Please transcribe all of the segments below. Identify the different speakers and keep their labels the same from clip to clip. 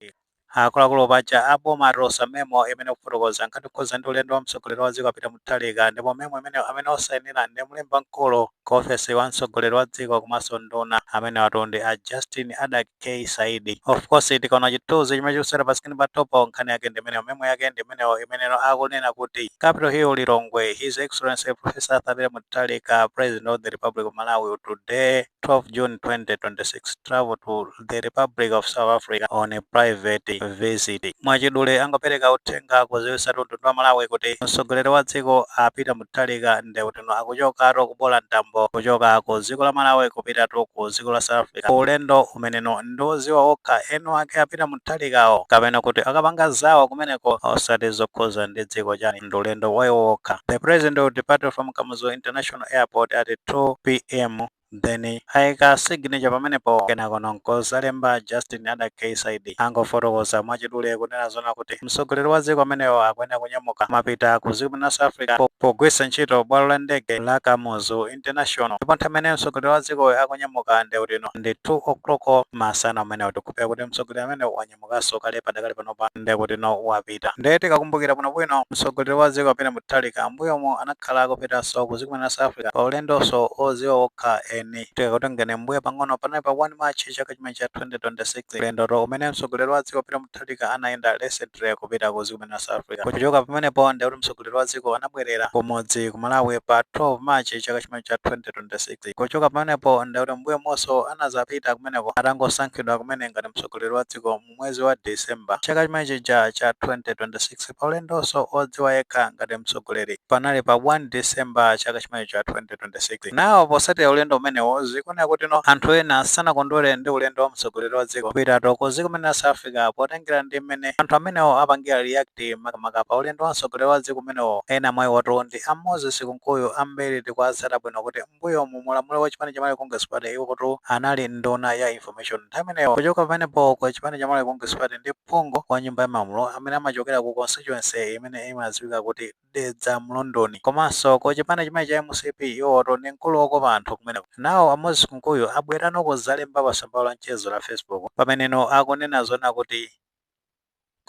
Speaker 1: Malawi. Akuluakulu paja a boma atulutsa memo imene ikufotokoza nkhani yokhudzana ndi ulendo wa mtsogoleri wa dziko a Peter Mutharika ndipo memo imeneyo amene wasainira ndi mlembi wamkulu ku ofesi wa mtsogoleri wa dziko komanso nduna amenewatu ndi a Justin Adack K Saidi. Of course tikaona chithunzi chimene chikusewera pa screen pathupo nkhani yake ndi imeneyo memo yake ndi imeneyo imeneno akunena kuti Capital Hill Lilongwe His Excellency Professor Arthur Peter Mutharika President of the Republic of Malawi will today 12 June 2026 travel to the Republic of South Africa on a private visit. Mwachidule angopereka uthenga kuziwisa mtundu wa Malawi kuti mtsogoleri wa dziko a Peter Mutharika ndewutino akuchokatu kuboola mtambo kuchoka ku dziko la Malawi kupitatu ku dziko la South Africa. Ulendo umeneno ndiwoziwa okha eni ake a Peter Mutharikawo kapena kuti akapanga zawo kumeneko osati zokhuza ndi dziko chani. ndi ulendo wa iwo wokha. The president will depart from Kamuzu International Airport at 2 pm then ayika signature pamenepo kenakono nkuzalemba Justin Adack K Saidi angofotokoza mwachidule kunena zona kuti mtsogoleri wa dziko amenewo akuyenera kunyamuka mapita ku dziko la South Africa po- pogwiritsa ntchito bwalo la ndege la Kamuzu International ndipo nthawi imene mtsogoleri wa dzikoyo akunyamuka ndeutino ndi 2 o'clock masana amenewa tikupeza kuti mtsogoleri amene wanya wanyamukanso kale padakali panopa nde kuti no wapita nde tikakumbukira bwinobwino mtsogoleri wa dziko a peter mutharika mbuyomu anakhala akupitanso ku dziko mene la south africa pa ulendonso oziwa wokha eni tikakutengeni mbuyo pang'ono panali pa 1 march chaka chimene cha 2026 ulendotu umene mtsogoleri wa dziko a peter mutharika anayenda recently kupita ku dziko mene la south africa kuchoka pamenepo nde kuti mtsogoleri wa dziko anabwerera kumudzi ku malawi pa 12 march chaka chimene cha 2026 kuchoka pamenepo nde kuti mbuyomunso anazapita kumeneko atangosankhidwa kumene ngati mtsogoleri mtsogoleri wa dziko mu mwezi wa December chaka chimene chija cha 2026 pa ulendonso odziwa yekha ngati mtsogoleri panali pa 1 December chaka chimene cha 2026. Now posatira ulendo umenewo zikuoneka kuti no anthu ena sanakondwere ndi ulendo wa mtsogoleri wa dziko kupitatu ku dziko mene la South Africa potengera ndi mmene anthu amenewo apangira react makamaka pa ulendo wa mtsogoleri wa dziko umenewo ena mwa iwotu ndi a Moses Kunkuyu ambiri tikuwatsata bwino kuti M'mbuyomu mu ulamulo wa chipani cha Malawi Congress Party iwotu anali nduna ya Information nthawi imeneyo. Kuchoka pamenepo ku chipani cha Malawi Congress Party ndi phungu wa nyumba ya malamulo amene amachokera ku constituency imene imadziwika kuti Dedza Mlunduni. Komanso ku chipani chimene cha mcp iwowotu ndi mkulu wokopa anthu kumeneko. Nawo a Moses Kunkuyu abwerano kudzalemba pa tsamba lawo la mchezo la Facebook pameneno akunena zonena kuti.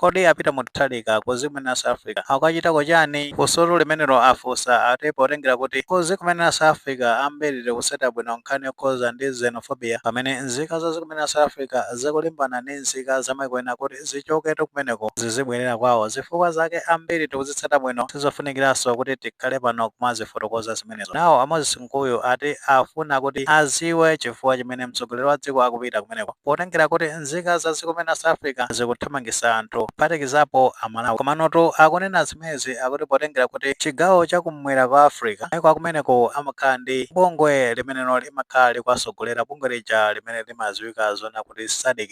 Speaker 1: Kodi a Peter Mutharika ku dziko mene la South Africa akukachitako chani? Funsotu limenelo afunsa ati potengera kuti ku dziko mene la South Africa ambiri tikutsatira bwino nkhani yokhuza ndi xenophobia pamene nzika za dziko mene la South Africa zikulimbana ndi nzika zamaiko ena kuti zichoketu kumeneko zizibwelera kwawo zifukwa zake ambiri tikuzitsata bwino sizofunikiraso kuti tikhale pano kumazifotokoza zimenezo nawo a Moses Kunkuyu ati afuna kuti aziwe chifukwa chimene mtsogoleri wa dziko akupita kumeneko potengera kuti nzika za dziko limene la South Africa zikuthamangisa anthu kuphatikizapo a Malawi komanotu akunena zimezi akuti potengera kuti chigawo cha kum'mwera kwa Africa maiko akumeneko amakhala ndi bungwe limenelo limakhala likuwasogolera bungwe lija limene limaziwika zona kuti Sadc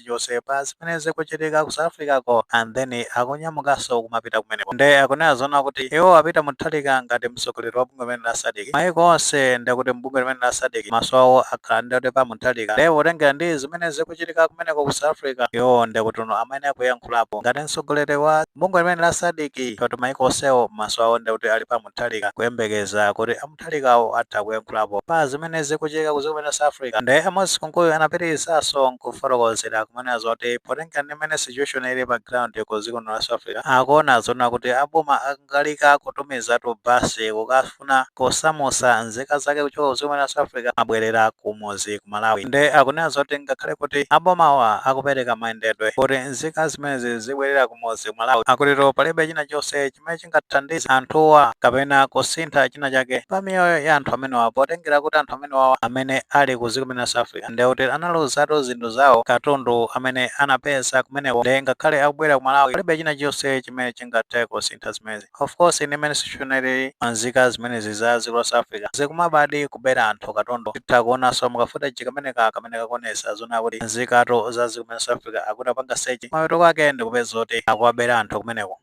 Speaker 1: chilichonse pa zimene zikuchitika ku South Africa ko and then akunyamukanso kumapita kumeneko nde akunena zoona kuti iwo a Peter Mutharika ngati mtsogoleri wa bungwe limene la Sadc maiko onse nde kuti mbungwe limene la Sadc maso awo akhala nde kuti pa Mutharika nde potengera ndi zimene zikuchitika kumeneko ku South Africa iwo nde akuti amene akuyankhulapo ngati mtsogoleri wa bungwe limene la Sadc kuti maiko onsewo maso awo nde kuti ali pa Mutharika kuyembekeza kuti Mutharikawo atha kuyankhulapo pa zimene zikuchitika ku dziko limene la South Africa nde a Moses Kunkuyu anapitilizaso nkufotokozera kumanena zoti potengera ndi mmene situation ili pa ground ku dziko limene la South Africa akuona zoona kuti a boma akangalika kutumizatu bus kukafuna kusamusa nzika zake kuchoka ku dziko limene la South Africa kumabwelera kumudzi ku Malawi nde akunena zoti ngakhale kuti a bomawa akupereka mayendedwe kuti nzika zimenezi zibwelere kumudzi ku Malawi akutitu palibe china chonse chimene chingathandize anthuwa kapena kusintha china chake pa miyoyo ya anthu amenewa potengera kuti anthu amenewawa amene ali ku dziko limene la South Africa ndiye kuti analuzatu zinthu zawo katundu amene anapeza kumeneko ndiye ngakhale akubwera ku Malawi palibe china chonse chimene chingathe kusintha zimenezi of course ndi mmene situation ili nzika zimenezi za dziko la South Africa zikumabadi kubera anthu katundu titha kuonanso mukafuteji kameneka kamene kakuonesa zona kuti nzikatu za dziko limene la South Africa akuti apanga sechi mapeto kwake ndikupeza kuti akuwabera anthu kumeneko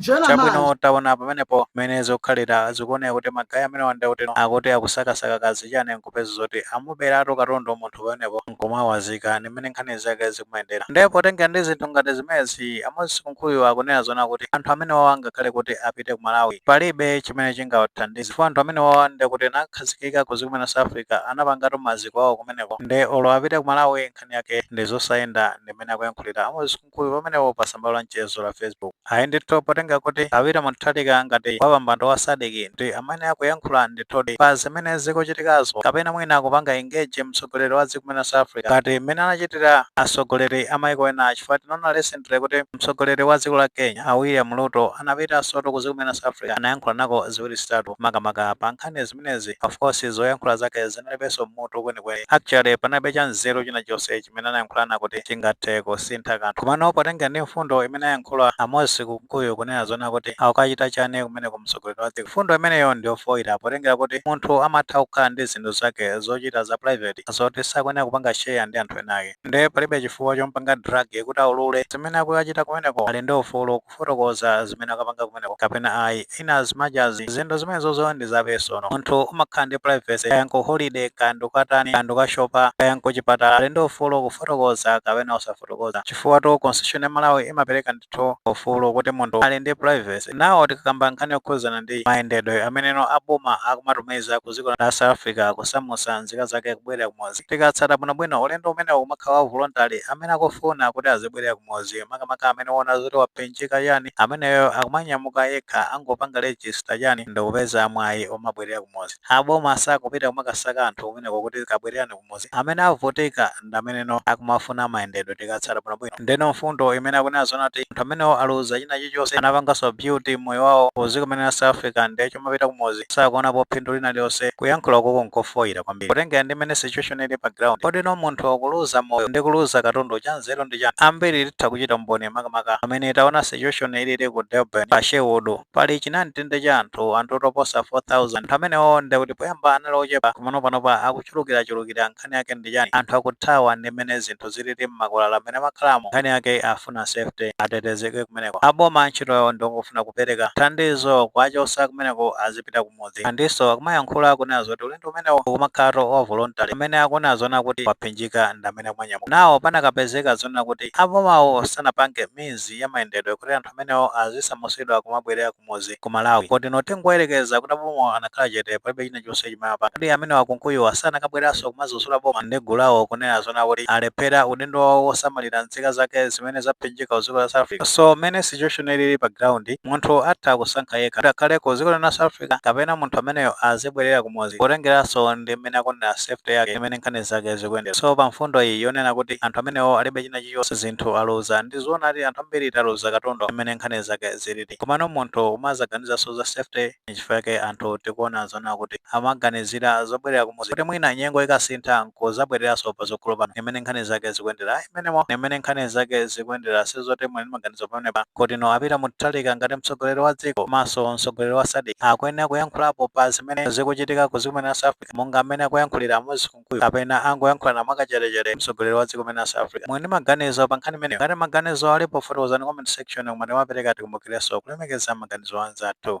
Speaker 1: chabwino taona pamenepo mmene zikukhalira zikuoneka kuti magayi amenewa nde kuti akuti akusakasaka kaya zichani nkupeza zoti amuberatu katundu munthu pamenepo nkumawazika ndi mmene nkhani zake zikumayendera ndipo potengera ndi zinthu ngati zimenezi a Moses Kunkuyu akunena zona kuti anthu amene wawa ngakhale kuti apite ku Malawi palibe chimene chingawathandize chifukwa anthu amene wawa ndi kuti anakhazikika ku dziko la South Africa anapangatu maziko awo kumeneko nde olo apite ku Malawi nkhani yake ndi zosayenda ndi mmene akuyankhulira a Moses Kunkuyu pamenepo pa tsamba la mchezo la Facebook. Ayi ndithu potenga kuti a Peter Mutharika ngati wapambando wa Sadc ndi amene akuyankhula ndithudi pa zimene zikuchitikazo kapena mwina akupanga engage mtsogoleri wa dziko la South Africa ngati mmene anachitira atsogoleri a maiko ena chifukwa tinaona recently kuti mtsogoleri wa dziko la Kenya a William Ruto anapitansotu ku dziko la South Africa anayankhulanako ziwiri zitatu makamaka pa nkhani zimenezi of course zoyankhula zake zinalibenso mutu kwenikweni actually panalibe cha nzeru china chonse chimene anayankhulana kuti chingathe kusintha kanthu komano potengera ndi mfundo imene ayankhula a Moses Kunkuyu kunena zona kuti akukachita chani kumeneko mtsogoleri wa dziko mfundo imeneyo ndi yofoira potengera kuti munthu amatha kukhala ndi zinthu zake zochita za private zoti sakuyenera kupanga share ndi anthu enaake nde palibe chifukwa chompanga drag kuti aulule zimene akukachita kumeneko ali ndi ufulu kufotokoza zimene akapanga kumeneko kapena ayi in as much as zinthu zimenezozo ndi za personal munthu umakhala ndi privacy kaya nku holiday kaya ndikukatani kaya ndikukashopa kaya nkuchipatala ali ndi ufulu kufotokoza kapena osafotokoza chifukwatu constitution ya malawi imapereka ndithu ufulu kuti munthu ali ndi privacy now tikakamba nkhani yokhuzana ndi mayendedwe ameneno aboma akumatumiza ku dziko la south africa kusamusa nzika zake kubwerera kumudzi tikatsata bwinobwino ulendo umenewo umakhala wa voluntary amene akufuna kuti azibwerera ku- mudzi makamaka amene waona zoti waphinjika chani ameneyo akumanyamuka yekha angopanga register chani ndikupeza mwayi omabwelera kumudzi aboma sakupita kumakasaka anthu kumeneko kuti kabwelelani kumudzi amene avutika ndameneno akumafuna mayendedwe tikatsata bwinobwino ndeno mfundo imene akunena zoona kuti anthu amenewo aluza china chilichonse anapangaso build moyo wawo kuziko mene la South Africa nde chomapita kumudzi sakuonapo phindu lina lilonse kuyankhula ukoko nkofoyira kwambiri kutengera ndi mene situation ili pa ground kodi no munthu akuluza moyo ndi kuluza katundu cha nzeru ndi chani ambiri titha kuchita umboni makamaka amene taona situation ilili ku Durban pa Sherwood pali chinamtindi cha anthu anthu oposa 4000 anthu amenewo ndi kuti poyamba anali ochepa komano panopa akuchulukirachulukira nkhani yake ndi chani anthu akuthawa ndi mene zinthu zilili mmakwalala amene amakhalamo nkhani yake akufuna safety atetezeke kumeneko aboma ntchito yawo ndongofuna kupereka thandizo kuwachosa kumeneko azipita kumudzi andiso akumayankhula akunena zoti ulendo umenewo ukumakhalatu wa voluntary amene akunena zona kuti waphinjika ndamene akumanyamuka now panakapezeka zonena kuti abomawo sanapange means ya mayendedwe kuti anthu amenewo azisamusidwa kumabwerera ku kumudzi ku malawi kodi no tingoyelekeza kuti abomawo anakhala chete palibe china chonse chimene amapanga kodi amenewa kunkuyuwa sanakabweraso kumazuzula boma ndi gulu lawo kunena zona kuti alephera udindo wawo wosamalira nzika zake zimene zaphinjika ku dziko la south africa so mene situation ilili pa ground munthu atha kusankha yekha kuti akhale ku dziko lina la south africa kapena munthu ameneyo azibwerera kumudzi potengeraso ndi mmene akuonera safety yake ndimene nkhani zake zikuyendera so pa mfundo iyi yonena kuti anthu amenewo alibe china chilichonse zinthu aluza ndi zoonadi anthu ambiri taluza katundu ndimene nkhani zake zili komano munthu umazaganizanso za safety nchifukwa chake anthu tikuona zoona kuti amaganizira zobwerera kumudzi kuti mwina nyengo ikasintha nkuzabwereranso pazogolo pano ndimene nkhani zake zikuyendera ayi mmenemo ndimene nkhani zake zikuyendera sizoti muli ndi maganizo pamenepa kodi no a peter mutharika ngati mtsogoleri wa dziko komanso mtsogoleri wa sadc akuyenera kuyankhulapo pa zimene zikuchitika kuziko mene la south africa monga mmene akuyankhulira moses ku nkuyu kapena angoyankhulana mwakachetechete mtsogoleri wa dziko mene la South Africa muli ndi maganizo pa nkhani imeneyo ngati maganizo alipo fotokozani comment section koma tikamapereka tikumbukireso kulemekeza maganizo a anzathu.